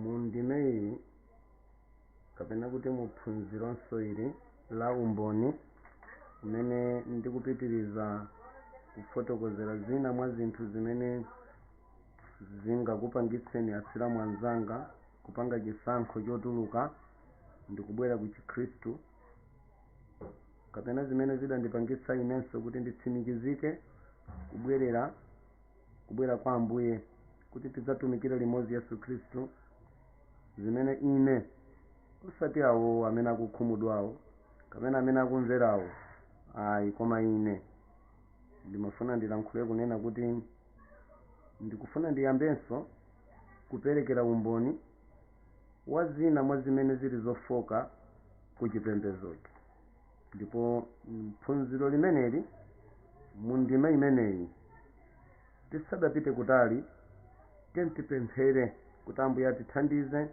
mu ndime iyi kapena kuti mu phunzironso ili la umboni umene ndikupitiriza kufotokozera zina mwa zinthu zimene zingakupangitseni asilamu anzanga kupanga chisankho chotuluka ndikubwera ku chikhristu kapena zimene zidandipangitsa inenso kuti nditsimikizike kubwerera kubwera kwa ambuye kuti tidzatumikire limodzi yesu khristu zimene ine osati awo amene akukhumudwawo kapena amene akumverawo ayi koma ine ndimafuna ndilankhule kunena kuti ndikufuna ndiyambenso kuperekera umboni wa zina mwa zimene zili zofoka ku chipembedzochi ndipo mphunziro limeneli mu ndima imeneyi tisadapite kutali tiyeni tipemphere kuti ambuye atithandize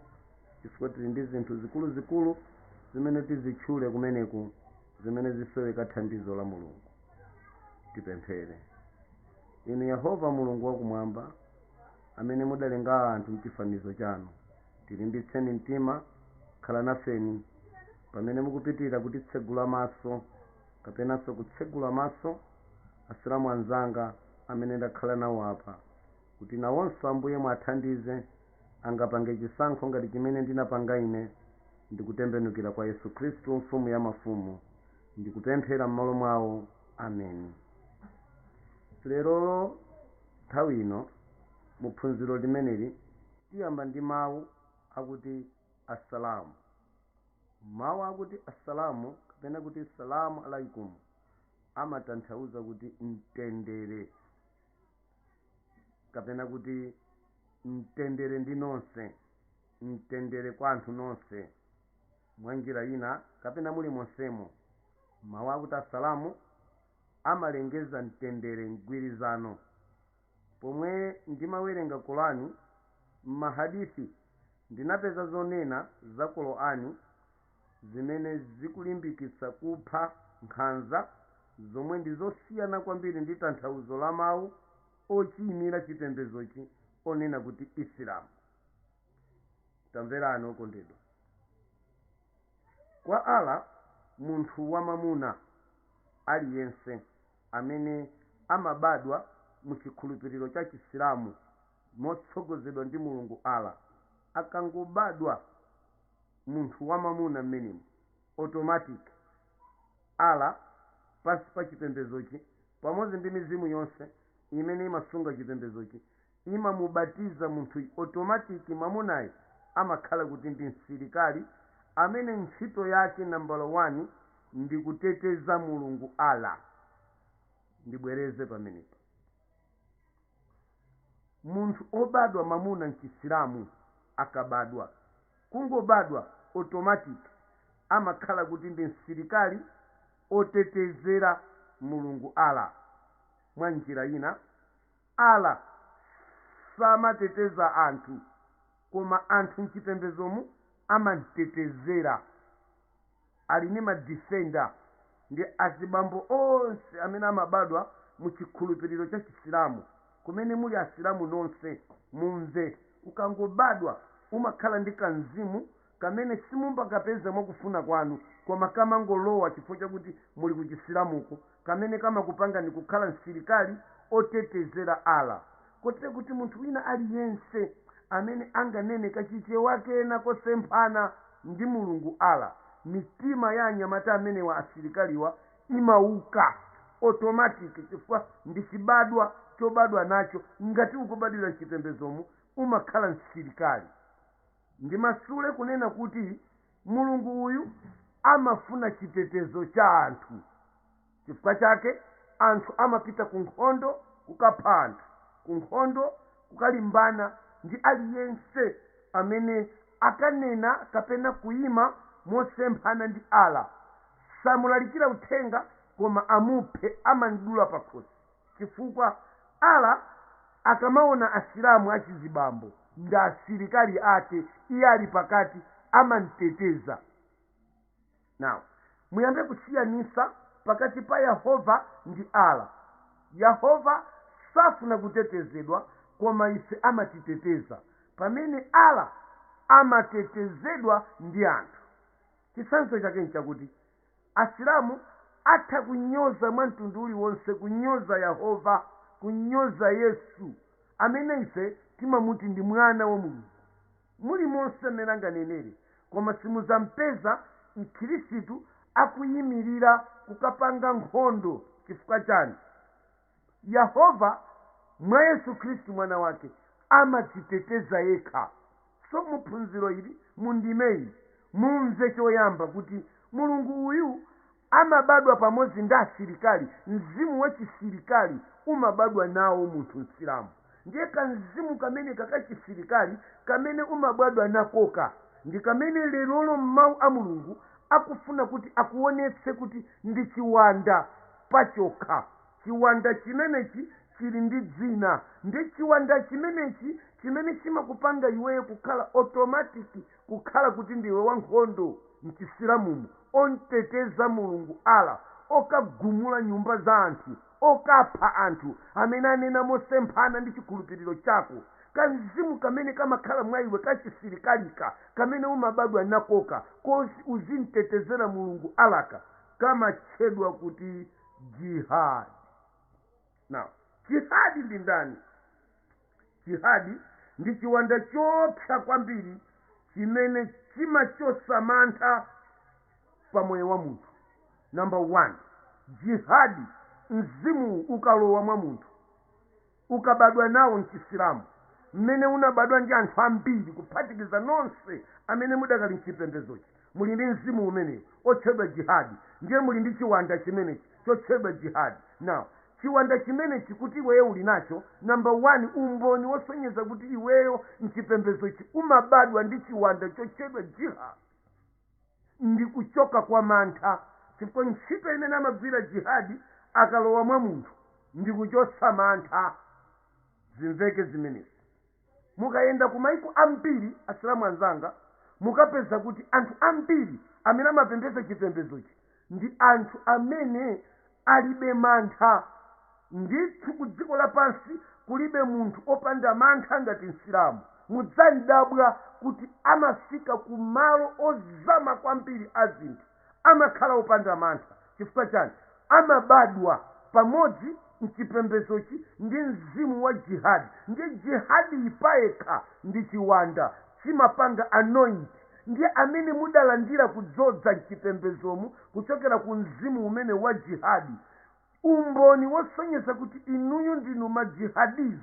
chifukwa tili ndi zinthu zikuluzikulu zimene tizitchule kumeneku zimene zisoweka thandizo la mulungu tipemphere inu yehova mulungu wakumwamba amene mudalenga anthu mchifanizo chanu tilimbitseni mtima khalani nafe pamene mukupitira kutitsegula maso kapenanso kutsegula maso asilamu anzanga amene ndakhala nawo apa kuti nawonso ambuye muwathandize angapange chisankho ngati chimene ndinapanga ine ndikutembenukira kwa yesu khristu mfumu ya mafumu ndikupemphera m'malo mwawo ameni lerolo nthawi ino mu phunziro limeneli tiyamba ndi mawu akuti assalamu Mawu akuti Assalamu kapena kuti Salaam Alaikum amatanthauza kuti mtendere kapena kuti mtendere ndi nonse, mtendere kwa anthu nonse. Mwa njira ina kapena mulimonsemo, mawu akuti Assalamu amalengeza mtendere, mgwirizano Pomwe ndimawerenga Qurani ndi mahadisi ndinapeza zonena za Qurani zimene zikulimbikitsa kupha, nkhanza, zomwe ndi zosiyana kwambiri ndi tanthauzo la mawu ochiyimira chipembedzochi onena kuti Isilamu. Tamverani okondedwa. Kwa Allah munthu wamamuna aliyense. amene amabadwa mu chikhulupiriro cha Chisilamu motsogozedwa ndi Mulungu Allah, akangobadwa munthu wa mamuna m'menemo, automatic Allah pansi pa chipembedzochi pamodzi ndi mizimu yonse imene imasunga chipembedzochi imamubatiza munthu automatic mamunayi amakhala kuti ndi msilikali amene ntchito yake nambala 1 ndi kuteteza Mulungu Allah. Ndibwereze pamenepa. Munthu obadwa mamuna mchisilamu akabadwa, kungobadwa automatic amakhala kuti ndi msilikali otetezera Mulungu Allah mwa njira ina Allah samateteza anthu koma anthu mchipembezomu amamtetezera. Ali ndi ma defender ndi azibambo onse amene amabadwa mu chikhulupiliro cha chisilamu. Kumene muli asilamu nonse mumve. Ukangobadwa umakhala ndi ka mzimu kamene simumakapeza mwa kufuna kwanu koma kamangolowa chifukwa chakuti muli ku Chisilamuko, kamene kamakupangani kukhala msilikali otetezera Allah. Kotero kuti munthu wina aliyense amene anganeneko Chichewa kena kosemphana ndi Mulungu Allah, mitima ya anyamata amenewa asilikaliwa imauka automatic chifukwa ndi chibadwa chobadwa nacho, ngati ukubadwira mchipembedzomu umakhala msilikali. ndimasule kunena kuti mulungu uyu amafuna chitetezo cha anthu chifukwa chake anthu amapita ku nkhondo kukapha anthu ku nkhondo kukalimbana ndi aliyense amene akanena kapena kuima mosemphana ndi allah samulalikira uthenga koma amuphe amudule pakhosi chifukwa Allah akamaona asilamu achizibambo ndi asilikali ake iye ali pakati amamteteza now muyambe kusiyanisa pakati pa yehova ndi Allah yehova safuna kutetezedwa koma ife amatiteteza pamene Allah amatetezedwa ndi anthu chitsanzo chake nchakuti Asilamu atha kunyoza mwa mtundu uliwonse, kunyoza Yahova, kunyoza Yesu, amene ife timamuti ndi Mwana wa Mulungu, mulimonse m'mene anganenere, koma simudzampeza m'Khirisitu akuyimirira kukapanga nkhondo chifukwa chani? Yehova, mwa Yesu Khristu Mwana wake, amadziteteza yekha. So mu phunziro ili, mu ndime iyi, mumve choyamba kuti Mulungu uyu amabadwa pamodzi ndi asilikali, mzimu wa chisilikali umabadwa nawo munthu Msilamu. Ndiye ka mzimu kameneka ka chisilikali kamene umabadwa nakoka ndi kamene lerolo m'Mau a Mulungu akufuna kuti akuonetse kuti ndi chiwanda. pachokha. Chiwanda chimenechi chili ndi dzina. Ndi chiwanda chimenechi chimene chimakupanga iweyo kukhala automatic kukhala kuti ndiwe wankhondo mchisilamumu, omteteza Mulungu Allah, okagumula nyumba za anthu, okapha anthu amene anena mosemphana ndi chikhulupiliro chako. Kamzimu kamene kamakhala mwa iwe ka chisilikalika kamene umabadwa nakoka koti uzimtetezera Mulungu Allah'ka, kamatchedwa kuti jihad now jihad ndi ndani jihad ndi chiwanda choopsa kwambiri chimene chimachotsa mantha pa moyo wa munthu number one jihad mzimu ukalowa mwa munthu ukabadwa nawo mchisilamu mmene unabadwa ndi anthu ambiri kuphatikiza nonse amene mudakali mchipembezochi muli ndi mzimu umenewu otchedwa jihadi ndiye muli ndi chiwanda chimenechi chotchedwa jihadi now chiwanda chimenechi kuti iweyo uli nacho number 1 umboni wosonyeza kuti iweyo mchipembezochi umabadwa ndi chiwanda chotchedwa jihad ndi kuchoka kwa mantha chifukwa ntchito imene amagwira jihadi akalowa mwa munthu ndi kuchotsa mantha zimveke zimenezi mukayenda ku maiko ambiri asilamu anzanga mukapeza kuti anthu ambiri amene amapembedza chipembedzochi ndi anthu amene alibe mantha. Ndithu ku dziko lapansi kulibe munthu opanda mantha ngati Msilamu. Mudzadabwa kuti amafika ku malo ozama kwambiri a zinthu, amakhala opanda mantha. Chifukwa chani? Amabadwa pamodzi m'chipembedzochi ndi mzimu wa jihad. Ndiye jihadi payekha ndi chiwanda, chimapanga anoint. ndiye amene mudalandira kudzodza m'chipembedzomu kuchokera ku mzimu umenewu wa jihadi, umboni wosonyeza kuti inuyo ndinu ma jihadiz,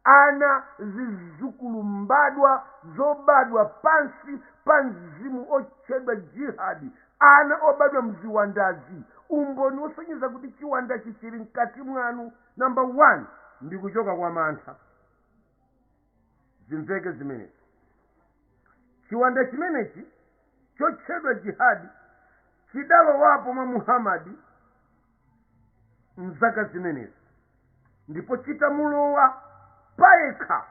ana, zidzukulu, mbadwa zobadwa pansi pa mzimu otchedwa jihad, ana obadwa mziwandazi, umboni wosonyeza kuti chiwandachi chili mkati mwanu, number 1, ndi kuchoka kwa mantha. zimveke zimenezi chiwanda chimenechi chotchedwa jihadi chidalowapo mwa muhamadi mzaka zimenezi ndipo chitamulowa payekha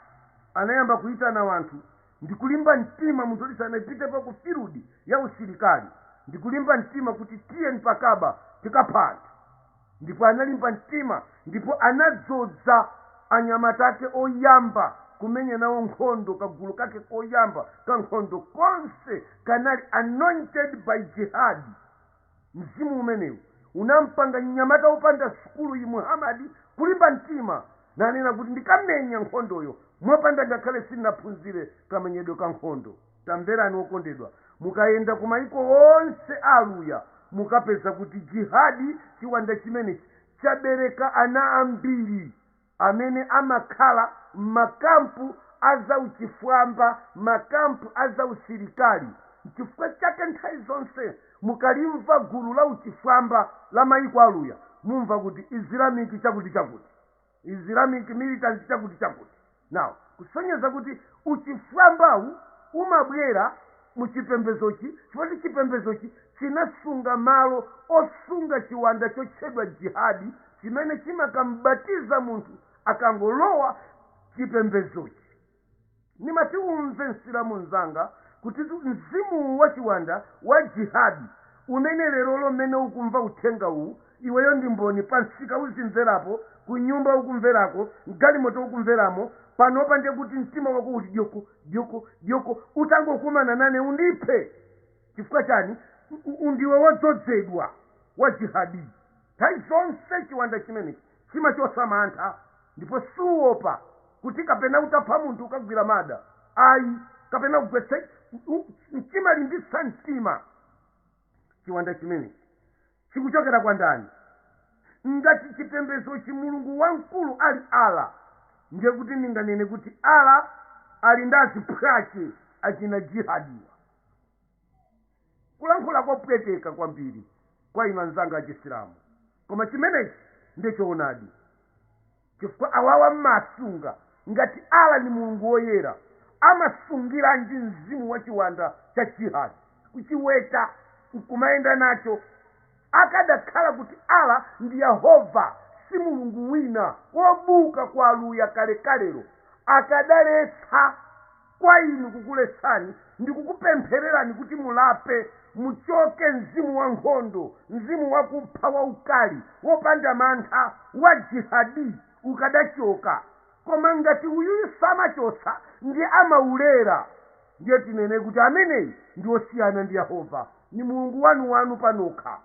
anayamba kuyitana wanthu ndi kulimba mtima munthu oti sanapitepo ku field ya usilikali ndi kulimba mtima kuti tiyeni tikabe tikaphe anthu ndipo analimba mtima ndipo anadzodza anyamata ake oyamba kumenya nawo nkhondo kagulu kake koyamba ka nkhondo konse kanali anointed by jihad mzimu umenewu unampanga mnyamata wopanda sukulu uyu muhamadi kulimba mtima nanena kuti ndikamenya nkhondoyo mopanda ngakhale sindinaphunzire kamenyedwe ka nkhondo Tamverani okondedwa, mukayenda ku maiko onse a Aluya mukapeza kuti Jihad, chiwanda chimenechi, chabereka ana ambiri amene amakhala m'ma camp a za uchifwamba, ma camp a za usilikali. Nchifukwa chake nthawi zonse mukalimva gulu la uchifwamba la maiko a Aluya mumva kuti Islamic chakuti chakuti. islamic militant chakuti chakuti now kusonyeza kuti uchifwambawu umabwera mu chipembedzochi choti chipembedzochi chinasunga malo osunga chiwanda chotchedwa jihadi chimene chimakambatiza munthu akangolowa chipembedzochi Ndimati umve Msilamu mzanga kutitu mzimu uwu wa chiwanda wa Jihad umene lerolo mmene ukumva uthenga uwu iweyo ndi mboni pa msika ukumverapo, ku nyumba ukumverako, mgalimoto ukumveramo, panopa ndiye kuti mtima wako uli dyoko! dyoko! dyoko! utangokumana nane undiphe! chifukwa chani? ndiwe wodzodzedwa wa Jihadi. Nthawi zonse chiwanda chimenechi chimachotsa mantha ndipo siuwopa kuti kapena utapha munthu ukagwira mada ayi kapena kugwetsa chimalimbitsa mtima chiwanda chimenechi chikuchokera kwa ndani ngati chipembedzochi mulungu wamkulu ali Allah ndiye kuti ndinganene kuti Allah ali ndi aziphwache achina jihadiwa. kulankhula kopweteka kwambiri kwa inu anzanga achisilamu koma chimenechi ndiye choonadi chifukwa awawa amasunga ngati allah ndi mulungu woyera amasungiranji mzimu wa chiwanda cha jihad kuchiweta nkumayenda nacho Akadakhala kuti Allah ndi Yehova si Mulungu wina, wobuka kwa Aluya kalekalelo, akadaletsa kwa inu kukuletsani ndi kukupemphererani kuti mulape, muchoke mzimu wa nkhondo, mzimu wakupha, waukali, wopanda mantha, wa jihadi ukadachoka. Koma ngati uyuyu samachotsa ndiye amaulera. Ndiye tinene kuti ameneyu ndi osiyana ndi Yehova, ni mulungu wanu-wanu panokha.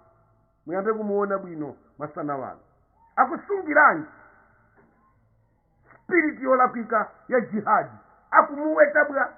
Muyambe kumuona bwino masana ano. Akusungiranji spiriti yolakwika ya jihad? Akumuweta bwanji?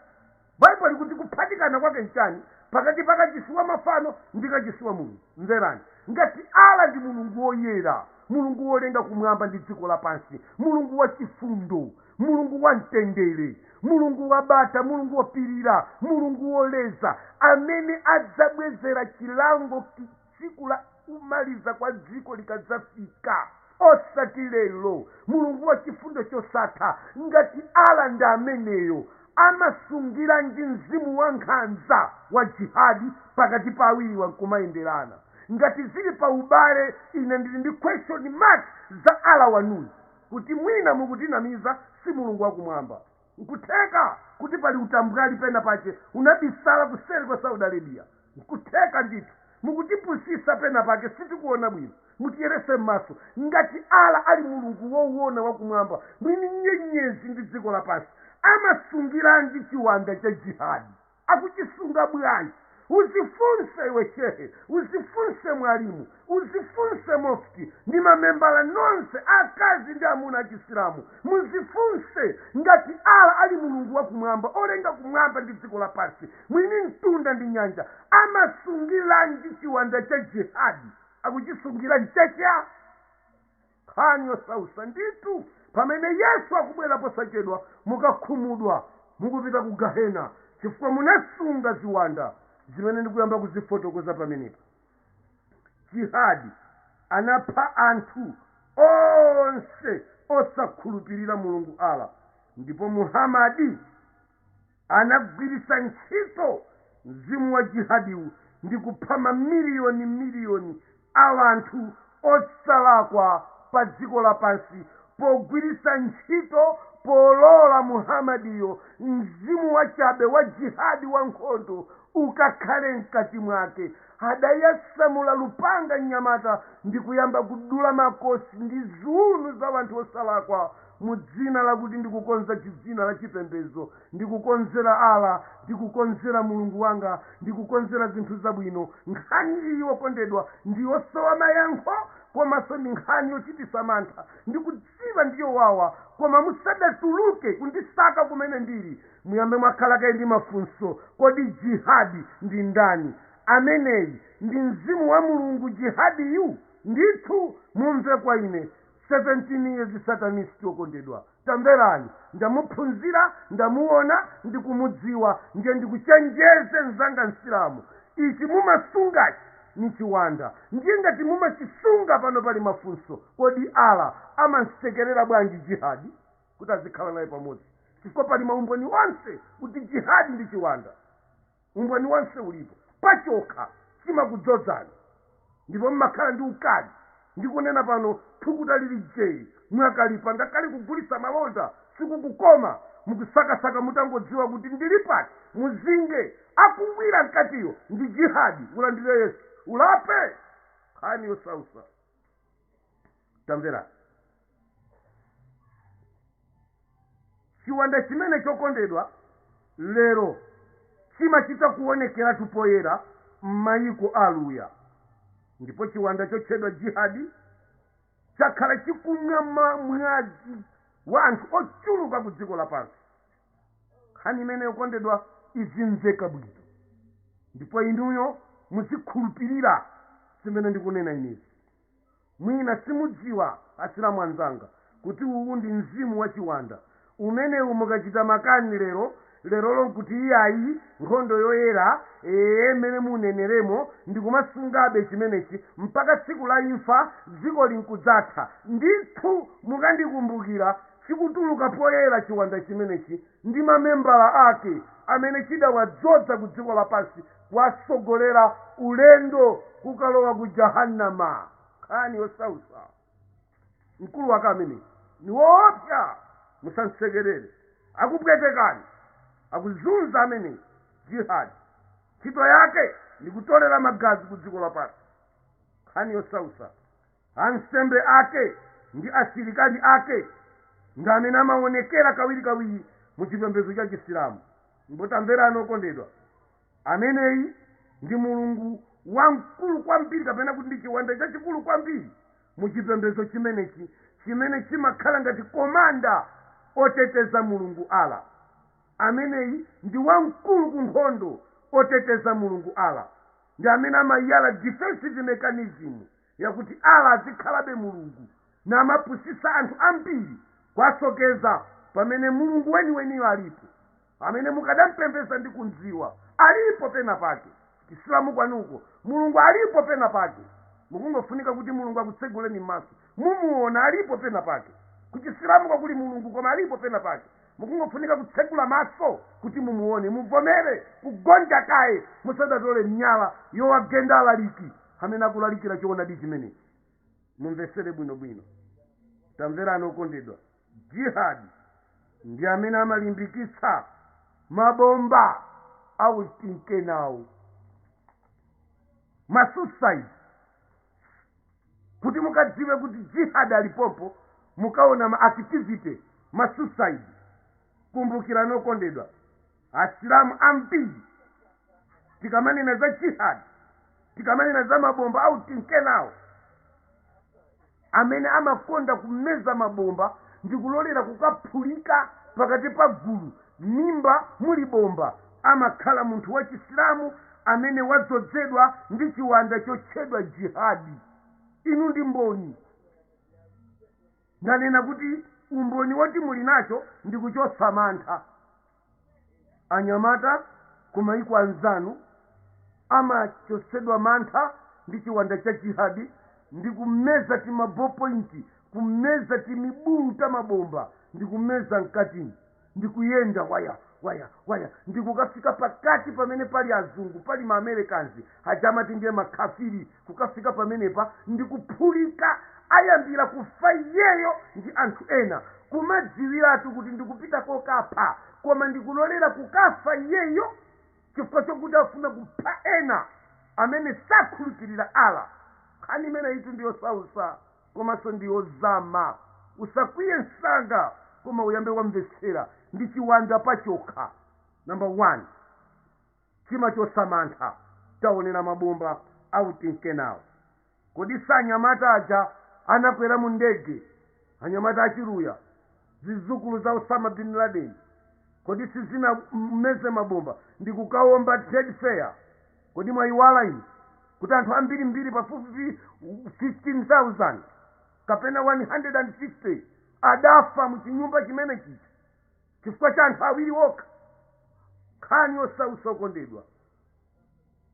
Bible likuti kuphatikana kwake n'chani pakati pa kachisi wa mafano ndi kachisi wa Mulungu? Mverani, ngati Allah ndi Mulungu woyera, Mulungu wolenga kumwamba ndi dziko lapansi, Mulungu wachifundo, mulungu wa mtendere mulungu wa bata mulungu wopirira mulungu woleza amene adzabwezera chilango ki- tsiku la kumaliza kwa dziko likadzafika osati lero mulungu wa chifundo chosatha ngati ala ndi ameneyo amasungiranji mzimu wa nkhanza wa jihadi pakati pa awiriwa nkumayenderana ngati zili pa ubale ine ndili ndi question mark za ala wanuyu kuti mwina mukutinamiza si Mulungu wa kumwamba. Nkutheka kuti pali utambwali pena pache unabisala kuseri kwa Saudi Arabia. Nkutheka ndithu. Mukutipusisa pena pake sitikuona bwino. Mutiyeretse mmaso. Ngati Allah ali Mulungu wowona wa kumwamba, mwini nyenyezi ndi dziko lapansi, amasungiranji chiwanda cha Jihad? akuchisunga bwanji uzifunse iwe shehe uzifunse mwalimu uzifunse mufti ndi mamembala nonse akazi ndi amuna achisilamu muzifunse ngati allah ali mulungu wa kumwamba olenga kumwamba ndi dziko lapansi mwini mtunda ndi nyanja amasungilanji chiwanda cha jihadi akuchisungira nchani Nkhani yosausa ndithu pamene Yesu akubwera posachedwa mukakhumudwa mukupita ku gahena chifukwa munasunga ziwanda zimene ndikuyamba kuzifotokoza pamenepa. Jihad anapha anthu onse osakhulupilira Mulungu Allah ndipo Muhammad. Anagwiritsa ntchito mzimu wa jihadiwu ndi kupha mamiliyoni miliyoni a anthu osalakwa pa dziko lapansi pogwiritsa ntchito polola Muhamadiyo mzimu wachabe wa jihad wa nkhondo ukakhale mkati mwake. Adasamula lupanga mnyamata ndikuyamba kudula makosi ndi ziuno za anthu osalakwa. mu dzina lakuti ndikukonza dzina la chipembedzo ndikukonzera ala ndikukonzera mulungu wanga ndikukonzera zinthu zabwino nkhani iyi yokondedwa ndiyosowa mayankho komanso ndi nkhani yochitisa mantha ndikudziwa ndiyowawa koma musadatuluke kundisaka kumene ndili muyambe mwakhala kaye ndi mafunso kodi jihadi ndi ndani ameneyi ndi mzimu wa mulungu jihadiyu ndithu mumve kwa ine 17 years Satanist okondedwa tamverani ndamuphunzira ndamuona ndikumudziwa ndiye ndikuchenjeze mnzanga msilamu ichi mumasungachi nichiwanda ndiye ngati mumachisunga pano pali mafunso kodi Allah amamsekerera bwanji jihad kuti azikhala naye pamodzi chifukwa pali maumboni onse kuti jihad ndi chiwanda Umboni wonse ulipo, pachokha chimakudzodzani ndipo mmakhala ndi ukali. Ndikunena pano thukuta lili jee, mwakalipa, ngakhale kugulitsa malonda sikukukoma, mukusakasaka mutangodziwa kuti ndilipati muzinge. Akungwira mkatiyo ndi jihad, ulandire Yesu, ulape. Nkhani yosautsa. tamverani chiwanda chimene okondedwa lero chimachita kuonekeratu poyera m'mayiko a aluya ndipo chiwanda chotchedwa jihadi chakhala chikumwa ma- mwazi wa anthu ochuluka ku dziko lapansi nkhani imene okondedwa izimveka bwino ndipo inuyo muzikhulupirira zimene ndikunena inezi mwina simudziwa asilamu anzanga kuti uwu ndi mzimu wa chiwanda umenewu mukachita makani lero lerolo nkuti iyayi nkhondo yoyera ee mmene muneneremo ndikumasungabe chimenechi mpaka tsiku la imfa dziko linkudzatha ndithu mukandikumbukira chikutuluka poyera chiwanda chimenechi ndi mamembala ake amene chidawadzodza ku dziko lapansi kuwatsogolera ulendo kukalowa ku Jahannama. Nkhani yosautsa. Mkulu wake ameneyu ndi woopsa. Musamsekerere. Akupwetekani. Akuzunza ameneyi Jihad ntchito yake ndi kutolera magazi ku dziko lapansi. Nkhani yosautsa. Ansembe ake ndi asilikali ake ndi amene amaonekera kawirikawiri mu chipembedzo cha Chisilamu. Ndipo tamverani okondedwa, ameneyi ndi mulungu wamkulu kwambiri kapena kuti ndi chiwanda chachikulu kwambiri mu chipembedzo chimenechi chimene chimakhala ngati komanda oteteza Mulungu Allah. Ameneyi ndi wamkulu ku nkhondo oteteza Mulungu Allah. Ndi amene amayala defensive mechanism yakuti Allah azikhalabe Mulungu namapusitsa anthu ambiri kwasokeza pamene Mulungu weniweniyo alipo amene mukadampembeza ndi kumdziwa alipo pena pake chisilamu kwanuko Mulungu alipo pena pake mukungofunika kuti Mulungu akutseguleni mmaso mumuona alipo pena pake kuchisilamuko kuli Mulungu koma alipo pena pake mukungofunika kutsegula maso kuti mumuone muvomere kugonja kaye musadatole miyala yowagenda alaliki amene akulalikira choonadi chimenechi mumvetsere bwinobwino tamverani okondedwa jihad ndi amene amalimbikitsa mabomba autinkenawo masuicide kuti mukadziwe kuti jihad alipopo mukaona ma activity masuicide kumbukirani okondedwa asilamu ambiri tikamanena za jihad tikamanena za mabomba autinkenawo amene amakonda kumeza mabomba ndi kulolera kukaphulika pakati pa gulu mimba muli bomba amakhala munthu wa chisilamu amene wadzodzedwa ndi chiwanda chotchedwa jihadi inu ndi mboni ndanena kuti umboni woti muli nacho ndi kuchotsa mantha Anyamata kumaiko anzanu amachotsedwa mantha ndi chiwanda cha jihad ndi kumeza tima ball point, kumeza timibulu ta mabomba ndi kumeza mkati ndi kuyenda waya waya waya ndi kukafika pakati pamene pali azungu pali ma Americans aja amati ndiye ma khafiri, kukafika pamenepa ndi kuphulika ayambira kufa iyeyo ndi anthu ena kumadziwiratu kuti ndikupita kokapha koma ndikulolera kukafa iyeyo chifukwa chokuti afuna kupha ena amene sakhulupirira allah nkhani imeneyitu ndiyosausa komanso ndiyozama usakwiye msanga koma uyambe wamvetsera ndi chiwanda pachokha number 1 chimachotsa mantha. Taonera mabomba autinkenawo. Kodi si anyamata aja anakwera mu ndege, anyamata achiluya, zidzukulu za Osama Bin Laden? Kodi sizinameze mabomba ndi kukawomba Trade Fair? Kodi mwayiwala inu kuti anthu ambirimbiri pafupifupi 15,000 kapena 150 adafa mu chinyumba chimene chija? chifukwa cha anthu awiri okha nkhani yosautsa okondedwa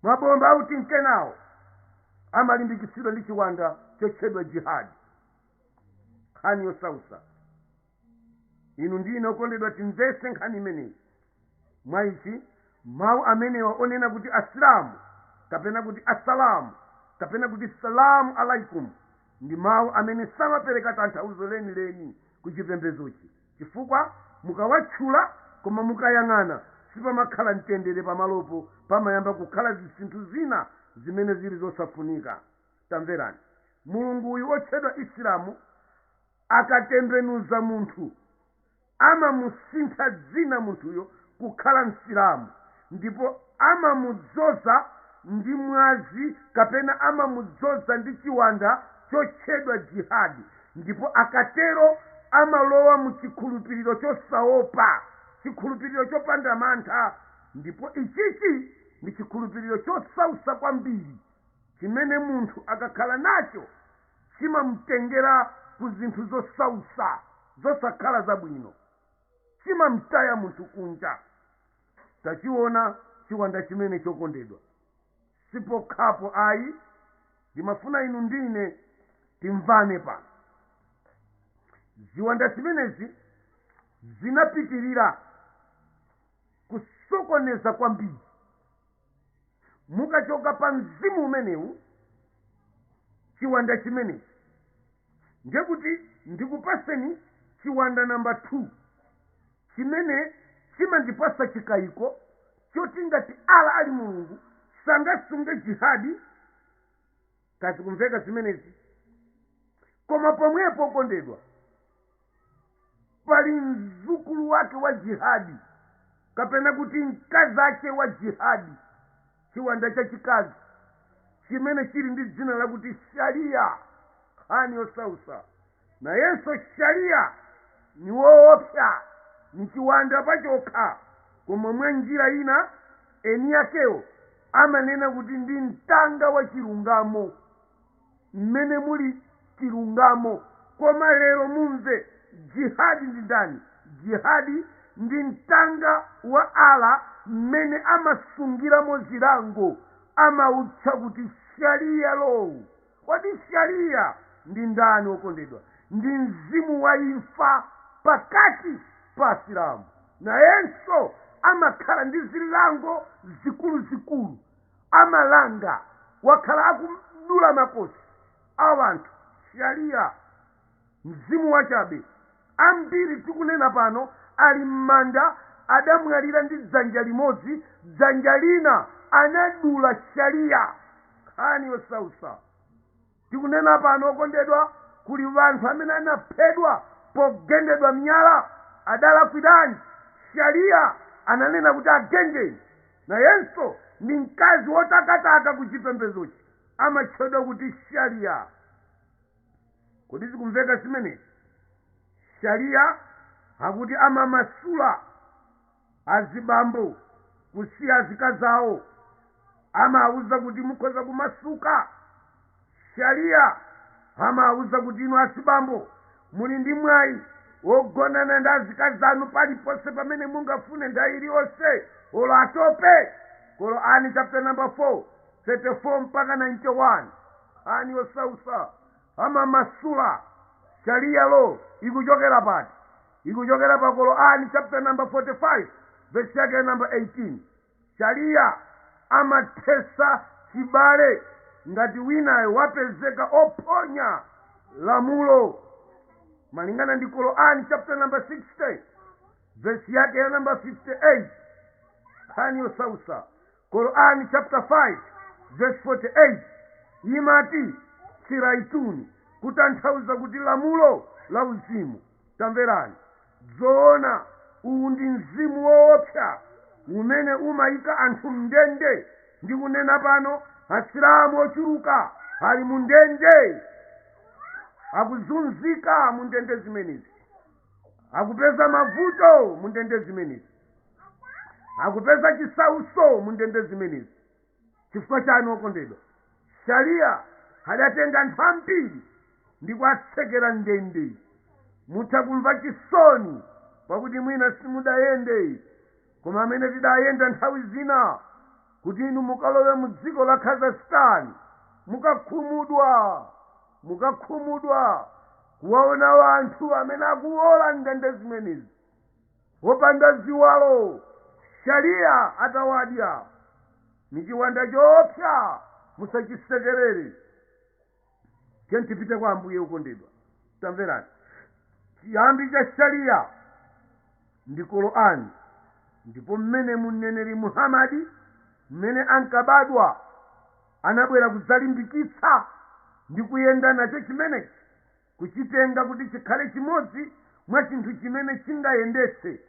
mabomba autinkenawo amalimbikitsidwa ndi chiwanda chotchedwa jihadi nkhani yosautsa inu ndi ine okondedwa timvese nkhani imeneyi mwa ichi mawu amenewa onena kuti asilamu kapena kuti asalamu kapena kuti salamu alaikum ndi mawu amene samapereka tanthauzo lenileni ku chipembedzochi chifukwa mukawatchula koma mukayang'ana sipamakhala mtendere pamalopo pamayamba kukhala zisinthu zina zimene zili zosafunika tamverani Mulungu uyu otchedwa Islam akatembenuza munthu amamusintha dzina munthuyo kukhala Msilamu ndipo amamudzoza ndi mwazi kapena amamudzoza ndi chiwanda chotchedwa jihad ndipo akatero amalowa mu chikhulupiriro chosaopa, chikhulupiriro chopanda mantha ndipo ichichi ndi chikhulupiriro chosausa kwambiri chimene munthu akakhala nacho chimamutengera ku zinthu zosausa, zosakhala zabwino. chimamtaya munthu kunja. Tachiona chiwanda chimenechi okondedwa. Sipokhapo ayi, ndimafuna inu ndi ine timvane pano. Ziwanda zimenezi zinapitirira kusokoneza kwambiri mukachoka pa mzimu umenewu chiwanda chimenechi ndiye kuti ndikupatseni chiwanda namba 2 chimene chimandipatsa chikayiko choti ngati ala ali mulungu sangasunge jihadi kodi zikumveka zimenezi koma pomwepo okondedwa pali mzukulu wake wa jihadi kapena kuti mkazache wa jihadi chiwanda chachikazi chimene chili ndi dzina lakuti shariya nkhani yosausa nayenso sharia ni woopsa ni chiwanda pachokha koma mwa njira ina eni akewo amanena kuti ndi mtanga wa chilungamo mmene muli chilungamo koma lero mumve jihad ndi ndani jihad ndi mtanga wa ala mmene amasungiramo zilango amautcha kuti sharia law Kodi Shariah ndi ndani, wokondedwa? Ndi mzimu wa imfa pakati pa Asilamu. Nayenso amakhala ndi zilango zikuluzikulu. Amalanga, wakhala akudula makosi, a wanthu. Shariah. Mzimu wachabe. Ambiri tikunena pano ali mmanda adamwalira ndi dzanja limodzi dzanja lina anadula sharia. Nkhani yosausa. Tikunena pano okondedwa kuli wanthu amene anaphedwa pogendedwa miyala. Adalakwiranji? Sharia ananena kuti agendeni. Nayenso ndi mkazi wotakataka kuchipembezochi amatchedwa kuti sharia. Kodi zikumveka zimenezi? Sharia akuti amamasula azibambo kusiya azikazi awo. Amawauza kuti mukhoza kumasuka. Sharia amawauza kuti inu azibambo muli ndi mwayi wogonana ndi azikazi anu paliponse pamene mungafune nthawi iliyonse olo atope. Quran chapter number 4, 34 mpaka 91. Qur'an yosautsa amamasula Sharia law ikuchokera pati? Ikuchokera pa Qur'an chapter number 45 verse yake ya number 18. Sharia amathesa chibale ngati winayo wapezeka ophonya lamulo malingana ndi Qur'an chapter number 60 verse yake ya number 58. Qur'an yosautsa. Quran chaputala 5 vesi 48 imati, Siraituni, kutanthauza kuti lamulo la uzimu. Tamverani! Dzoona, uwu ndi mzimu woopsa umene umaika anthu m'ndende. Ndikunena pano, Asilamu ochuluka ali mu ndende. Akuzunzika mu ndende zimenezi. Akupeza mavuto mu ndende zimenezi. akupeza chisauso mu ndende zimenezi chifukwa chani okondedwa sharia adatenga anthu ambiri ndi kuwatsekera m'ndende mutha kumva chisoni pakuti mwina simudayende koma amene tidayenda nthawi zina kuti inu mukalowe mu dziko la kazakhstan mukakhumudwa mukakhumudwa kuwaona anthu amene akuwola m'ndende zimenezi wopanda ziwalo sharia atawadya ndi chiwanda choopsa musachisekerere tiyeni tipite kwa ambuye okondedwa tamverani chiyambi cha sharia ndi korani ndipo mmene mneneri muhamadi mmene ankabadwa anabwera kudzalimbikitsa ndi kuyenda nacho chimenechi kuchitenga kuti chikhale chimodzi mwa chinthu chimene chingayendetse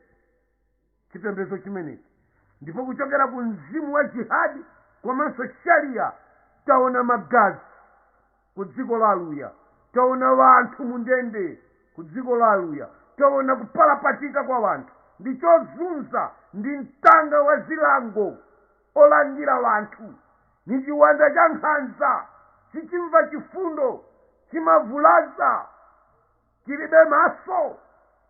chipembedzo chimenechi ndipo kuchokera ku mzimu wa jihad komanso sharia taona magazi ku dziko la aluya taona wanthu mu ndende ku dziko la aluya taona kupalapatika kwa wanthu ndi chozunza ndi mtanga wa zilango olangira wanthu nichiwanda cha nkhanza sichimva chifundo chimavulaza chilibe maso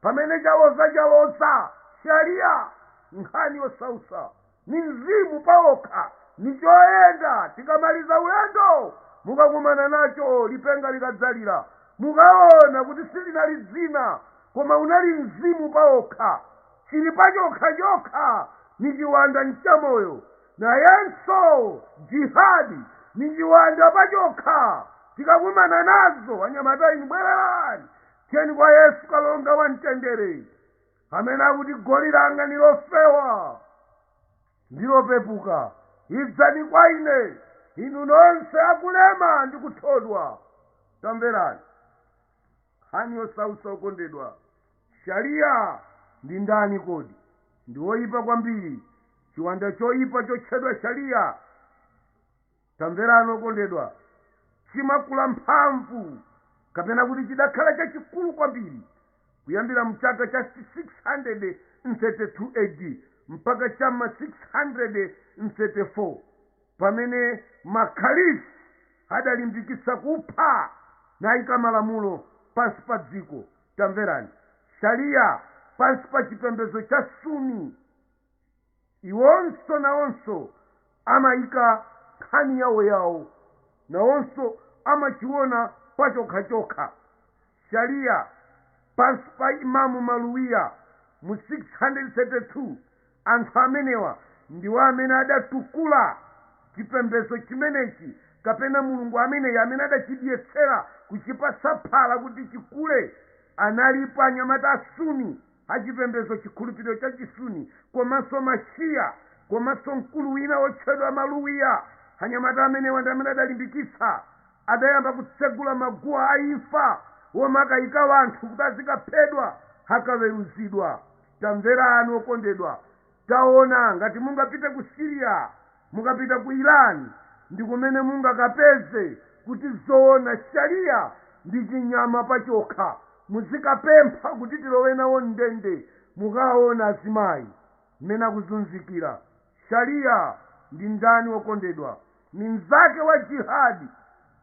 pamene chaloza chaloza sharia nkhani yosausa ni mzimu paokha nichoyenda tikamaliza ulendo mukakumana nacho lipenga likadzalira mukaona kuti silinali dzina koma unali mzimu paokha Cili pacokha-cokha ni ciwanda n'camoyo, nayenso Jihad ni ciwanda pacokha. Tikakumana nazo, anyamata inu bwererani, tiyeni kwa Yesu Kalonga wa Mtendere, amene akuti, Goli langa ni lofewa ndi lopepuka, idzani kwa Ine inu nonse akulema ndi kuthodwa. Tamverani! Nkhani Yosausa Okondedwa. Shariah ndi ndani kodi? Ndi oipa kwambiri, chiwanda choipa chotchedwa Shariah. Tamverani okondedwa, chimakula mphamvu kapena kuti chidakhala chachikulu kwambiri kuyambira mu chaka cha 632 AD mpaka cha m'ma 634. pamene ma Caliph adalimbikitsa kupha nayika malamulo pansi pa dziko, tamverani, Shariah pansi pa chipembedzo cha Sunni, iwonso nawonso amaika nkhani yawoyawo, nawonso amachiona pachokhachokha, Shariah pansi pa Imam Maluwiya mu 632. Anthu amenewa ndiwo amene adatukula chipembedzo chimenechi kapena mulungu ameneyi amene adachidyetsera kuchipatsa phala kuti chikule. Analipo anyamata a Sunni, achipembedzo chikhulupiriro cha Chisuni, komanso ma Shia, komanso mkulu wina wotchedwa Maluwiya. Anyamata amenewa ndi amene adalimbikitsa, adayamba kutsegula maguwa a imfa womakayika wanthu kuti azikaphedwa akaweruzidwa. Tamverani okondedwa, taona ngati mungapite ku Syria, mukapita ku Iran ndikumene mungakapeze kuti zoona Sharia ndi chinyama pachokha, muzikapempha kuti tilowe nawo mndende, mukaona azimayi mmene akuzunzikira, Sharia ndi ndani okondedwa? Ni mzake wa Jihad,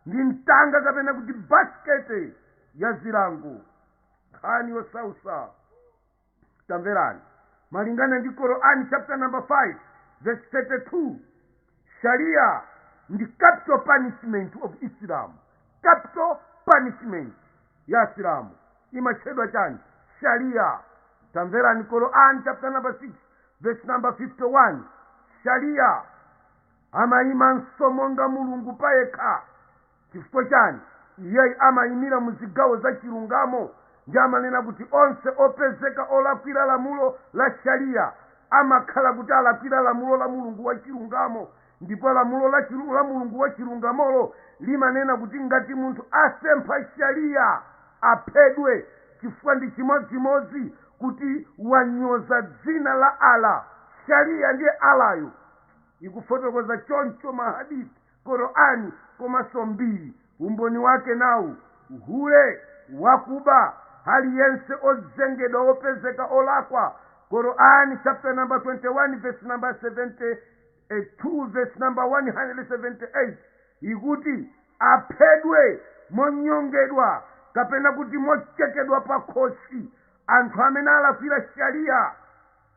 ndi mtanga kapena kuti basikete ya zilango. nkhani yosautsa tamverani malingana ndi korani chapter number 5 verse 32 sharia ndi capital punishment of islam capital punishment ya asilamu imatchedwa chani sharia tamverani korani chapter number 6 verse number 51 sharia amayimanso monga mulungu payekha Chifukwa chani? Iyeyu amayimira mu zigawo za chilungamo ndi amanena kuti onse opezeka olakwira lamulo la Shariah amakhala kuti alakwira lamulo la Mulungu wa chilungamo ndipo lamulo la Mulungu wa chilungamolo limanena kuti ngati munthu asempha Shariah aphedwe chifukwa ndi chimodzimodzi kuti wanyoza dzina la Allah. Shariah ndiye Allah yo, ikufotokoza choncho ma Hadith. Qur'an komanso mbiri umboni wake nawu, hule, wakuba, aliyense ozengedwa opezeka olakwa Qur'an chapter number 21 verse number 72 verse number 178 ikuti aphedwe monyongedwa kapena kuti mochekedwa pakhosi anthu amene alakwira shariah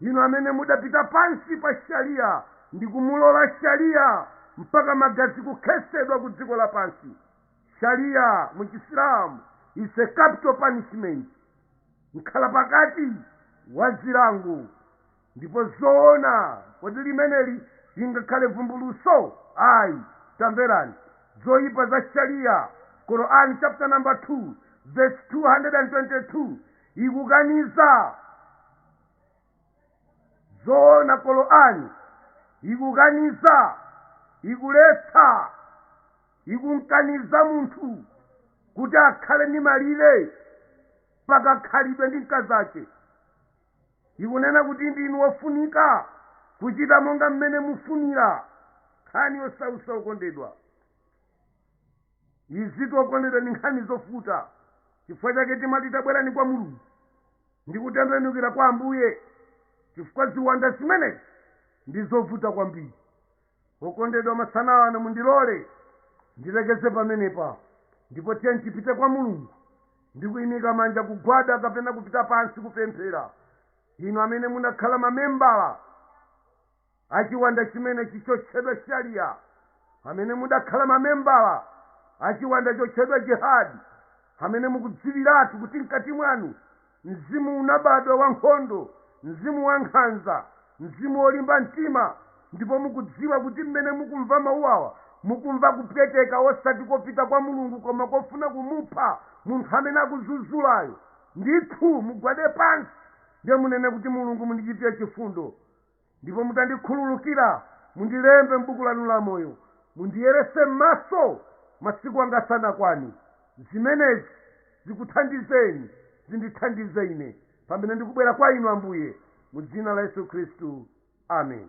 inu amene mudapita pansi pa shariya ndi kumulola shariya mpaka magazi kukhesedwa ku dziko lapansi shariya mu chisilamu is a capital punishment mkhalapakati wa zilango ndipo zoona kodi limeneli lingakhale vumbulutso ayi tamverani zoyipa za shariya quran chapter number 2 verse 222 ikukaniza zoona qur'ani ikukaniza ikuletsa ikumkaniza munthu kuti akhale ndi malire pakakhalidwe ndi mkazache ikunena kuti ndinu wofunika kuchita monga mmene mufunira nkhani yosautsa okondedwa izitu okondedwa ndi nkhani zovuta chifukwa chake timati tabwerani kwa mulungu ndi kutembenukira kwa ambuye chifukwa ziwanda zimenezi ndi zovuta kwambiri okondedwa masana ano mundilole ndilekeze pamenepa ndipo tiyeni tipite kwa mulungu ndi kuyimika manja kugwada kapena kupita pansi kupemphera inu amene munakhala mamembala a chiwanda chimenechi chotchedwa Sharia, amene mudakhala mamembala a chiwanda chotchedwa Jihad, amene mukudziwiratu kuti mkati mwanu mzimu unabadwa wa nkhondo, mzimu wa nkhanza, mzimu wolimba mtima, ndipo mukudziwa kuti mmene mukumva mawu awa mukumva kupweteka osati kopita kwa Mulungu koma kofuna kumupha munthu amene akuzuzulayo, ndithu mugwade pansi ndiye munene kuti, Mulungu mundichitire chifundo. ndipo mutandikhululukira, mundilembe m'buku lanu la moyo, mundiyeretse m'maso masiku anga asanakwane. Zimenezi zikuthandizeni, zindithandize ine pamene ndikubwera kwa inu, Ambuye, mu dzina la Yesu Khristu. Amen.